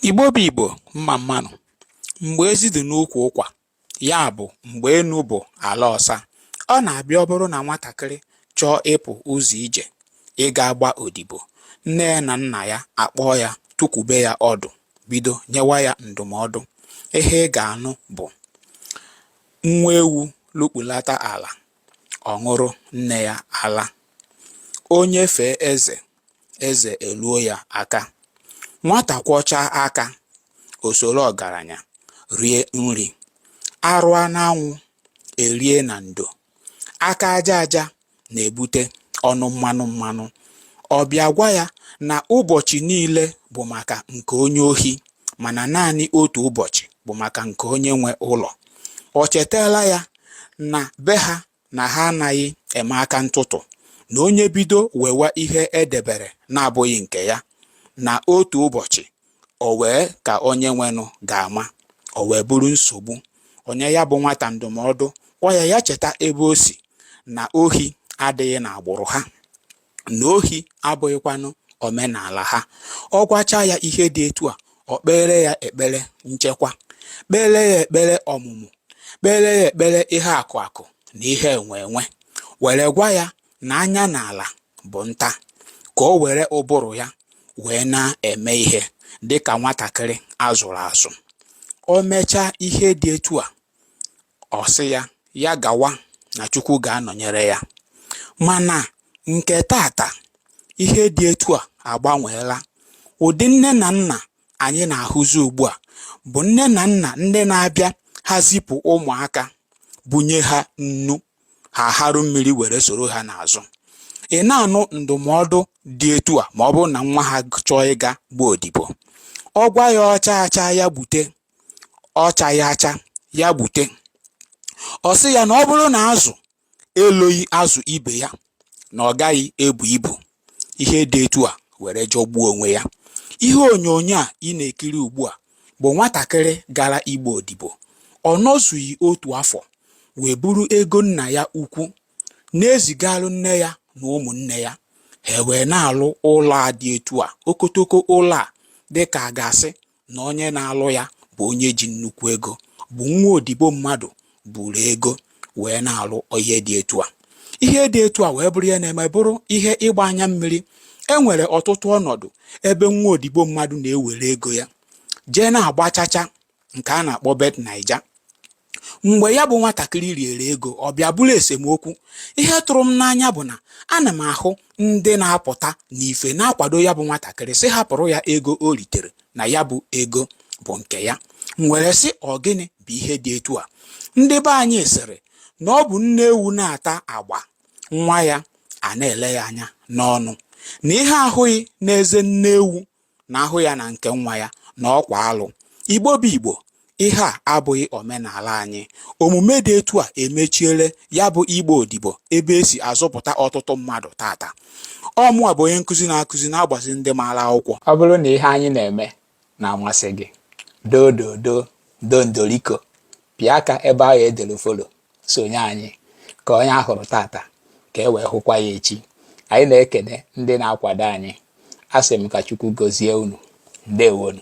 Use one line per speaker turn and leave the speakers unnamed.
Igbo bụ Igbo mma mma nụ, mgbe ezi dị n'ukwu ụkwa, ya bụ mgbe enu bụ ala ọsa, ọ na-abịa ọ bụrụ na nwatakịrị chọọ ịpụ ụzọ ije ịga gba odibo, nne ya na nna ya akpọọ ya tukwube ya ọdụ bido nyewa ya ndụmọdụ. Ihe ị ga-anụ bụ nwa ewu lukpulata ala, ọ ṅụrụ nne ya ala. Onye fee eze, eze eluo ya aka nwata kwọchaa aka o soro ọgaranya rie nri a rụa n'anwụ e rie na ndo aka aja aja na-ebute ọnụ mmanụ mmanụ ọ bịa gwa ya na ụbọchị niile bụ maka nke onye ohi mana naanị otu ụbọchị bụ maka nke onye nwe ụlọ o chetaala ya na be ha na ha anaghị eme aka ntụtụ na onye bido wewa ihe e debere na-abụghị nke ya na otu ụbọchị o wee ka onye nwenụ ga-ama o wee bụrụ nsogbu o nye ya bụ nwata ndụmọdụ gwa ya ya cheta ebe o si na ohi adịghị n'agbụrụ ha na ohi abụghịkwanụ omenala ha. Ọ gwacha ya ihe dị etu a, o kpeere ya ekpere nchekwa, kpeere ya ekpere ọmụmụ, kpeere ya ekpere ihe akụ akụ na ihe enwe enwe, were gwa ya na anya n'ala bụ nta, ka o were ụbụrụ ya wee na-eme ihe dị ka nwatakịrị a zụrụ azụ. O mechaa ihe dị etu a, Ọ sị ya ya gawa na Chukwu ga-anọnyere ya. Mana nke tata, ihe dị etu a agbanweela. Ụdị nne na nna anyị na-ahụzi ugbu a bụ nne na nna ndị na-abịa ha zipụ ụmụaka bunye ha nnu ha harụ mmiri were soro ha n'azụ. Ị na-anụ ndụmọdụ dị etu a ma ọ bụrụ na nwa ha chọọ ịga gbaa odibo. Ọ gwa ya ọ chaa acha ya gbute ọ chaghị acha ya gbute ọ sị ya na ọ bụrụ na azụ eloghị azụ ibe ya na ọ gaghị ebu ibu ihe dị etu a were jọgbuo onwe ya ihe onyonyo a ị na-ekiri ugbu a bụ nwatakịrị gara ịgba odibo ọ nọzughị otu afọ wee buru ego nna ya ukwu na-ezigalụ nne ya na ụmụnne ya ha wee na-alụ ụlọ a dị etu a okotoko ụlọ a dịka a ga-asị na onye na-alụ ya bụ onye ji nnukwu ego bụ nwa odibo mmadụ buru ego wee na-alụ ihe dị etu a ihe dị etu a wee bụrụ ihe na-eme bụrụ ihe ịgba anya mmiri e nwere ọtụtụ ọnọdụ ebe nwa odibo mmadụ na-ewere ego ya jee na-agba chacha nke a na-akpọ bet naija Mgbe ya bụ nwatakịrị riere ego, ọ bịa bụrụ esemokwu. Ihe tụrụ m n'anya bụ na ana m ahụ ndị na-apụta n'ife na-akwado ya bụ nwatakịrị sị hapụrụ ya ego o ritere na ya bụ ego bụ nke ya. M were sị ọ gịnị bụ ihe dị etu a? Ndị be anyị sịrị na ọ bụ nne ewu na-ata agba, nwa ya ana-ele ya anya n'ọnụ. Na ihe a hụghị n'eze nne ewu na a hụ ya na nke nwa ya na ọkwa alụ. Igbo bụ Igbo, ihe a abụghị omenala anyị. Omume dị etu a emechiele ya bụ ịgba odibo ebe e si azụpụta ọtụtụ mmadụ tata. Ọ mụnwa bụ onye nkụzi na-akụzi na-agbazi ndị maara akwụkwọ. Ọ bụrụ na ihe anyị na-eme na-amasị gị, doo doo doo doo ndoriko, pịa aka ebe ahụ e dere follow. sonye anyị ka onye a hụrụ tata ka e wee hụkwa ya echi anyị na-ekene ndị na-akwado anyị asị m ka Chukwu gọzie unu ndewonu